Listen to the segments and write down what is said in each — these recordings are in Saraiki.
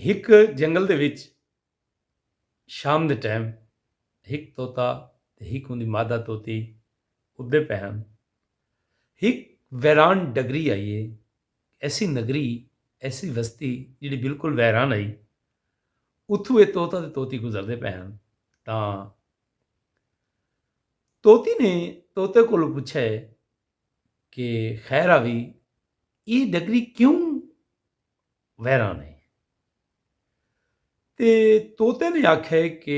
ہک جنگل دے وچ شام دے ٹیم ہک طوطا تے ہک اوندی مادہ طوطی اڈدے پئے ہن۔ ہک ویران ڈگری آئی ہے۔ ایسی نگری، ایسی وستی جیڑھی بالکل ویران ہئی۔ اتھوں اے طوطا تے طوطی گزردے پئے ہن تاں طوطی نے طوطے کولوں پچھیا ہے کہ خیر آوی ای ڈگری کیوں ویران ہے تے طوطے نے آکھے کہ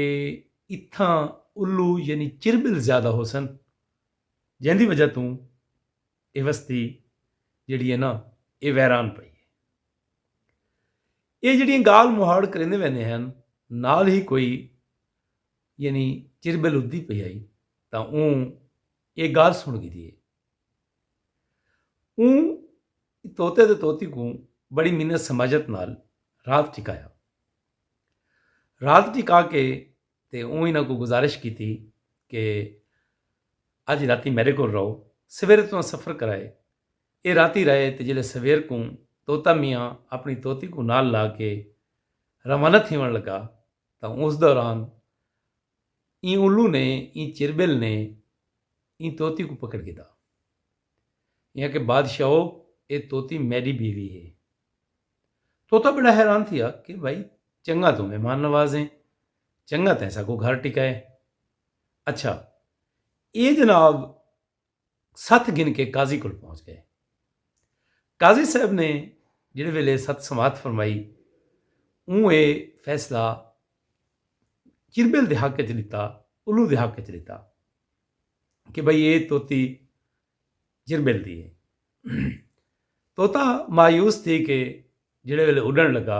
اتھاں الو یعنی چربل زیادہ ہوسن جیندی وجہ توں اے وستی جیڑی ہے نا اے ویران پئی ہے اے جیڑیاں گال مہاڑ کریندے ویندے ہن نال ہی کوئی یعنی چربل ادھی پئی آئی تاں اوں اے گالھ سن گھدی اے۔ اوں طوطے تے طوطی کوں بڑی منت سماجت نال رات ٹکایا۔ رات ٹکا کے تے اوں انہاں کوں گزارش کیتی کہ اج راتی میڈے کول رہو سویرے تساں سفر کرائے۔ اے راتی رہے تے جلے سویر کوں طوطا میاں اپنی طوطی کوں نال لا کے روانہ تھیون لگا تاں اس دوران ایں الو نے ایں چربل نے ایں طوطی کوں پکڑ گھدا۔ ایں آکھیا بادشاہو اے طوطی میڈی بیوی ہے۔ طوطا بڑا حیران تھیا کہ بھائی چنگا توں مہمان نواز ہیں چنگا تیں ساکوں گھر ٹکائے۔ اچھا اے جناب ست گھن کے قاضی کول پہنچ گئے۔ قاضی صاحب نے جیڑھے ویلے ست سماعت فرمائی اوں اے فیصلہ چربل دے حق اچ ڈتا الو دے حق اچ ڈتا کہ بھئی اے توتی چربل دی اے توتا مایوس تھی کے جیڑھے ویلے اڈن لگا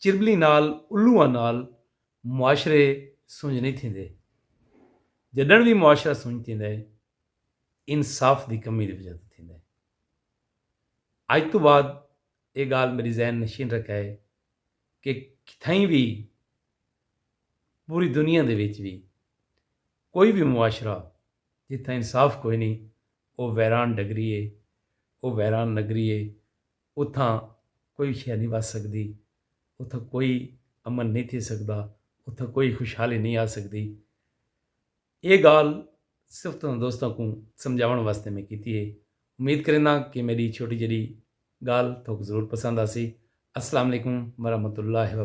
چربلیں نال الوئاں نال معاشرے سنج نئیں تھیندے۔ جݙݨ وی معاشرہ سنج تھیندا ہے انصاف دی کمی دی وجہ توں تھیندا ہے۔ اڄ توں بعد اے ڳالھ میݙی ذہن نشین رکھئے کہ کتھائیں وی پوری دنیا دے وچ وی کوئی وی معاشرہ جتھاں انصاف کوئی نئیں او ویران ڈگری ہے او ویران نگری ہے اتھاں کوئی شے نئیں وس سڳدی، اتھاں کوئی امن نئیں تھی سڳدا، اتھاں کوئی خوشحالی نئیں آ سڳدی۔ ایہ ڳالھ صرف تساں دوستاں کوں سمجھاوݨ واسطے میں کیتی ہے۔ امید کرینداں کہ میݙی چھوٹی جیݙی ڳالھ تہاکوں ضرور پسند آسی۔ السلام علیکم ورحمۃ اللہ وبرکاتہ۔